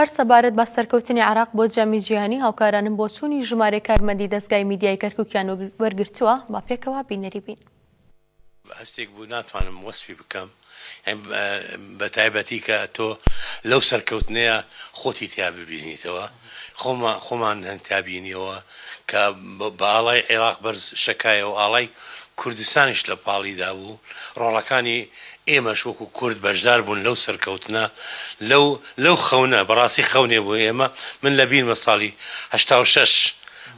هەر سەبارەت بە سەرکەوتنی عێراق بۆ جامی جیهانی، هاوکارانم بۆچوونی ژمارەی کارمەندی دەزگای میدیای کەرکووکیان وەرگرتووە، با پێکەوە بینەری بین. هەستێک بوو ناتوانم وەسفی بکەم بەتایبەتی کە تۆ لەو سەرکەوتنەیە خۆتی تیا ببینیتەوە خۆمان هەن تیا بینیەوە کە بە ئاڵای عێراق بەرز شەکایەوە ئاڵای کوردستانیش لە پاڵیدا بوو ڕۆڵەکانی ئێمەش وەکو کورد بەشدار بوون لەو سەرکەوتنە، لەو لەو خەونە، بەڕاستی خەونێ بۆ ئێمە، من لە بیرمە ساڵی هەشتا و شەش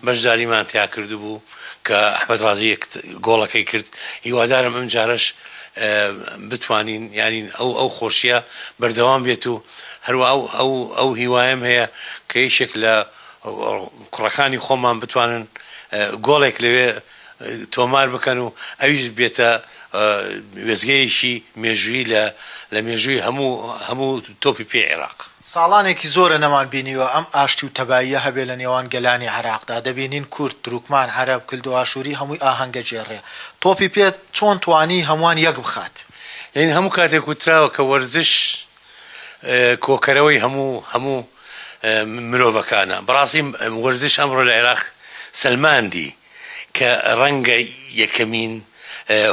بەشداریمان تیا کردبوو کە ئەحمەد ڕازی یەک گۆڵەکەی کرد، هیوادارم ئەمجارەش بتوانین یانین ئەو ئەو خۆشیە بەردەوام بێت و هەروا ئەو ئەو ئەو هیوایەم هەیە کە یەکێک لە کوڕەکانی خۆمان بتوانن گۆڵێک لەوێ تۆمار بکەن و ئەویش بێتە وێستگەیەکی مێژوویی لە لە مێژووی هەموو هەموو تۆپی پێی عێراق. ساڵانێکی زۆرە نەمان بینیوە ئەم ئاشتی و تەباییە هەبێ لە نێوان گەلانی عێراقدا، دەبینین کورد، تروکمان، عەرەب، کلدوئاشووری هەمووی ئاهەنگە گێڕێ. تۆپی پێ چۆن توانی هەمووان یەک بخات؟ یانی هەموو کاتێک وتراوە کە وەرزش کۆکەرەوەی هەموو هەموو مرۆڤەکانە بەڕاستی وەرزش ئەمڕۆ لە عێراق سەلماندی کە ڕەنگە یەکەمین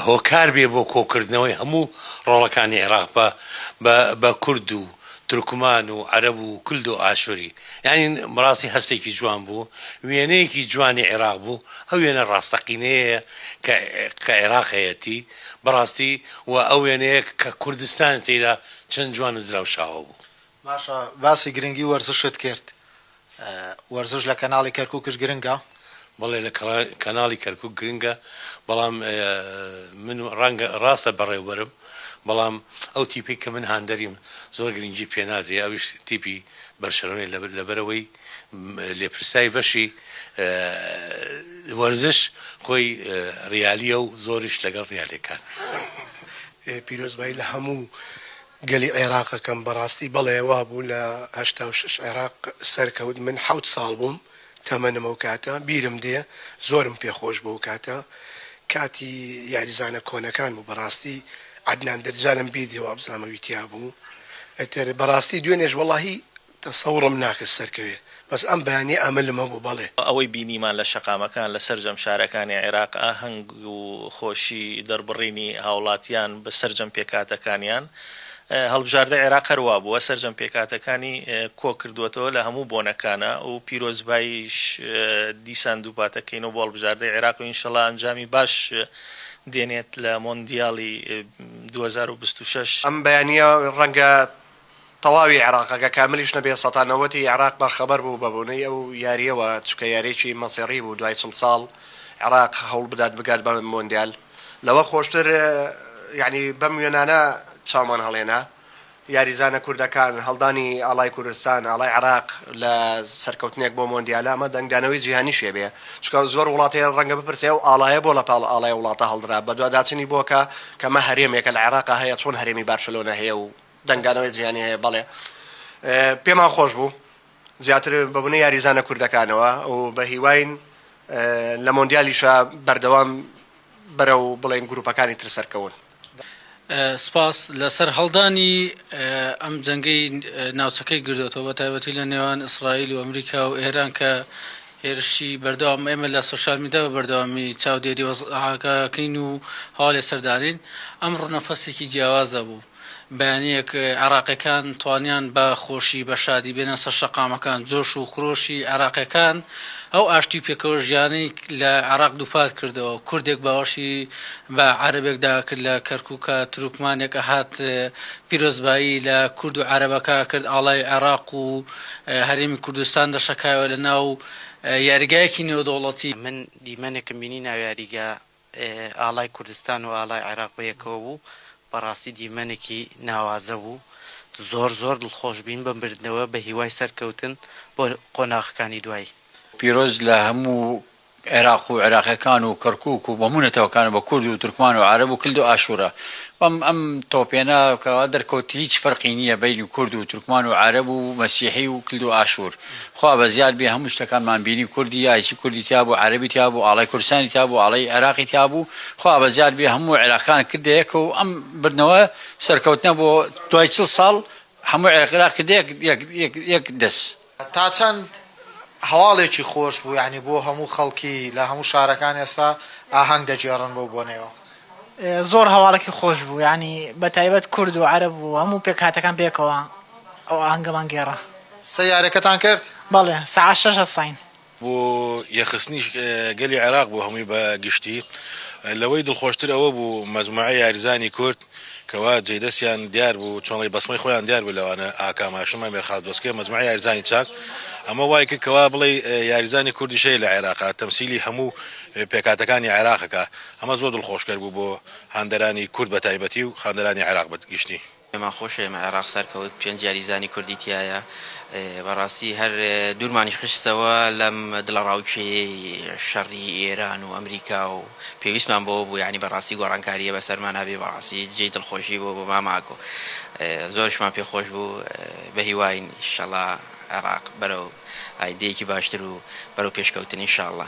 هۆکار بێ بۆ کۆکردنەوەی هەموو ڕۆڵەکانی عێراق بە بە بە کورد و تورکمان و عەرەب و کلد و ئاشوری یانی بەڕاستی هەستێکی جوان بوو وێنەیەکی جوانی عێراق بوو ئەو وێنە ڕاستەقینەیە کە کە عێراق هەیەتی بەڕاستی وە ئەو وێنەیە کە کوردستان تێیدا چەند جوان و دراوشاوە بوو. باشە باسی گرنگی وەرزشت کرد وەرزش لە کەناڵی کەرکوکش گرنگە؟ بەڵێ لە کەناڵی کەرکوک گرنگە بەڵام من ڕەنگە ڕاستە بەڕێوبەرم بەڵام ئەو تیپەی کە من هاندەریم زۆر گرنگی پێنادرێ ئەویش تیپی بەرشەلۆنەی لەبەرئەوەی لێپرسای بەشی وەرزش خۆی ڕیالیە و زۆریش لەگەڵ ڕیالەکانە. پیرۆزبایی لە هەموو گەلی عێراق ئەکەم بەڕاستی بەڵێ وابوو لە هەشتا و شەش عێراق سەرکەوت من حەوت ساڵ بووم تەمەنم ئەو کاتە بیرم دێ زۆرم پێ خۆش بوو ئەو کاتە کاتی یاریزانە کۆنەکان بوو بەڕاستی عەدنان دەجالم بیدێ وابزانم ئەوی تیابوو ئیتر بەڕاستی دوێنێش وەڵاهی تەسەوڕم ناکرد سەرکەوێ بەس ئەم بەیانیە ئەمەلم هەبوو بەڵێ. ئەوەی بینیمان لە شەقامەکان لە سەرجەم شارەکانی عێراق ئاهەنگ و خۆشی دەربڕینی هاوڵاتیان بە سەرجەم پێکهاتەکانیان هەڵبژاردەی عێراق هەر وابووە سەرجەم پێکهاتەکانی کۆ کردووەتەوە لە هەموو بۆنەکانا و پیرۆزباییش دیسان دووپاتەکەینەوە بۆ هەڵبژاردەی عێراق و ئینشەڵا ئەنجامی باش دێنێت لە مۆندیالی دوو هەزار و بیست و شەش. ئەم بەیانیە ڕەنگە تەواوی عێراق ئەگە کاملیش نەبێ سەتا نەوەتی عێراق بە خەبەر بوو بە بۆنەی ئەو یاریەوە چونکە یاریەکی مەسیڕی بوو دوای چڵ ساڵ عێراق هەوڵ بدات بگات بە مۆندیال لەوە خۆشتر یانی بەم وێنانە چاومان هەڵێنا یاریزانە کوردەکان هەڵدانی ئاڵای کوردستان ئاڵای عێراق لە سەرکەوتنێک بۆ مۆندیالە ئەمە دەنگدانەوەی جیهانیشێ بێ چونکە زۆر وڵاتێ ڕەنگە بپرسێ ئەو ئاڵایە بۆ لە پاڵ ئاڵای وڵاتە هەڵدرا بەدواداچنی بۆکە کەمە هەرێمێکە لە عێراقا هەیە چۆن هەرێمی بارشلۆنە هەیە و دەنگدانەوەی جیهانی هەیە بەڵێ. پێمان خۆش بوو زیاتر بە بونەی یاریزانە کوردەکانەوە و بە هیواین لە مۆندیالیشا بەردەوام بەرەو بڵێین گروپەکانی تر سەرکەون. سپاس لە سەرهەڵدانی ئەم جەنگەی ناوچەکەی گردۆتەوە بە تایبەتی لە نێوان ئیسرائیل و ئەمریکا و ئێران کە هێرشی بەردەوام ئێمە لە سۆشیال میدیا بە بەردەوامی چاودێری وەزعەکە کەین و هەواڵی سەردانین ئەم ڕنەفەسێکی جیاوازە بوو. بەیانیەک عێراقیەکان توانیان بە خۆشی بە شادی بێنە سەر شەقامەکان، جۆش و خرۆشی عێراقیەکان ئەو ئاشتی و پێکەوە ژیانەی لە عێراق دووپات کردەوە، کوردێک باوەشی بە عەرەبێکدا ئەکرد لە کەرکوکا، تروکمانێک ئەهات پیرۆزبایی لە کورد و عەرەبەکە ئەکرد، ئاڵای عێراق و هەرێمی کوردستان دەشەکایەوە لە ناو یاریگایەکی نێودەوڵەتی. من دیمەنێکم بینی ناو یاریگا ئاڵای کوردستان و ئاڵای عێراق بەیەکەوە بوو، بەڕاستی دیمەنێکی ناوازە بوو، زۆر زۆر دڵخۆش بووین بەم بردنەوە، بەهیوای سەرکەوتن بۆ قۆناغەکانی دوایی. پیرۆز لە هەموو عێراق و عێراقیەکان و کەرکوک و هەموو نەتەوەکان و بە کورد و تورکمان و عەرەب و کلد و ئاشورە بەم ئەم تۆپێنە کە وا دەرکەوت هیچ فەرقی نیە بەینی کورد و تورکمان و عەرەب و مەسیحی و کلد و ئاشور خوا بەزیاد بێ هەموو شتەکانمان بینی کوردی یایچی کوردی تیابوو عەرەبی تیابوو ئاڵای کوردستانی تیابوو ئاڵای عێراقی تیابوو خوا بەزیاد بێ هەموو عێراقیان کردە یەک و ئەم بردنەوە سەرکەوتنە بۆ دوای چڵ ساڵ هەموو عێراقیان کردە یەک یەک یەک دەس. تا چەند هەواڵێکی خۆش بوو یانی بۆ هەموو خەڵکی لە هەموو شارەکان ئێستا ئاهەنگ دەگێڕن بەو بۆنەیەوە. زۆر هەواڵەکی خۆش بوو یانی بەتایبەت کورد و عەرەب و هەموو پێکهاتەکان بێکەوە ئەو ئاهەنگەمان گێڕا. سەیارەکەتان کرد؟ بەڵێ سەعات شەش هەستاین. بۆ یەخستنی گەلی عێراق بوو هەمووی بە گشتی، لەوەی دڵخۆشتر ئەوە بوو مەجموعەی یاریزانانی کورد کە وا جێی دەستیان دیار بوو چۆن ڵێی بەسمەی خۆیان دیار بوو لەوانە ئاکام هاشم، ئەمێر خاس دۆسکێ، مەجموعەی یاریزانانی چاک ئەمە وای کرد کە وا بڵێی یاریزانی کوردیش هەیە لە عێراق تەمسیلی هەموو پێکهاتەکانی عێراق ئەکا ئەمە زۆر دڵخۆشکەر بوو بۆ هاندەرانی کورد بە تایبەتی و خاندەرانی عێراق بە گشتی. پێمان خۆشە ئێمە عێراق سەرکەوت پێنج یاریزانی کوردی تیایە بەڕاستی هەر دوورمانی خستەوە لەم دڵەڕاوکێیەی شەڕی ئێران و ئەمریکا و پێویستمان بەوە بوو یانی بەڕاستی گۆڕانکارییە بەسەرمان هەبێ بەڕاستی جێی دڵخۆشی بوو بۆ مام ئاکۆ زۆرشمان پێ خۆش بوو بەهیواین ئیشەڵا عێراق بەرەو ئایندەیەکی باشتر و بەرەو پێشکەوتن ئینشاڵڵا.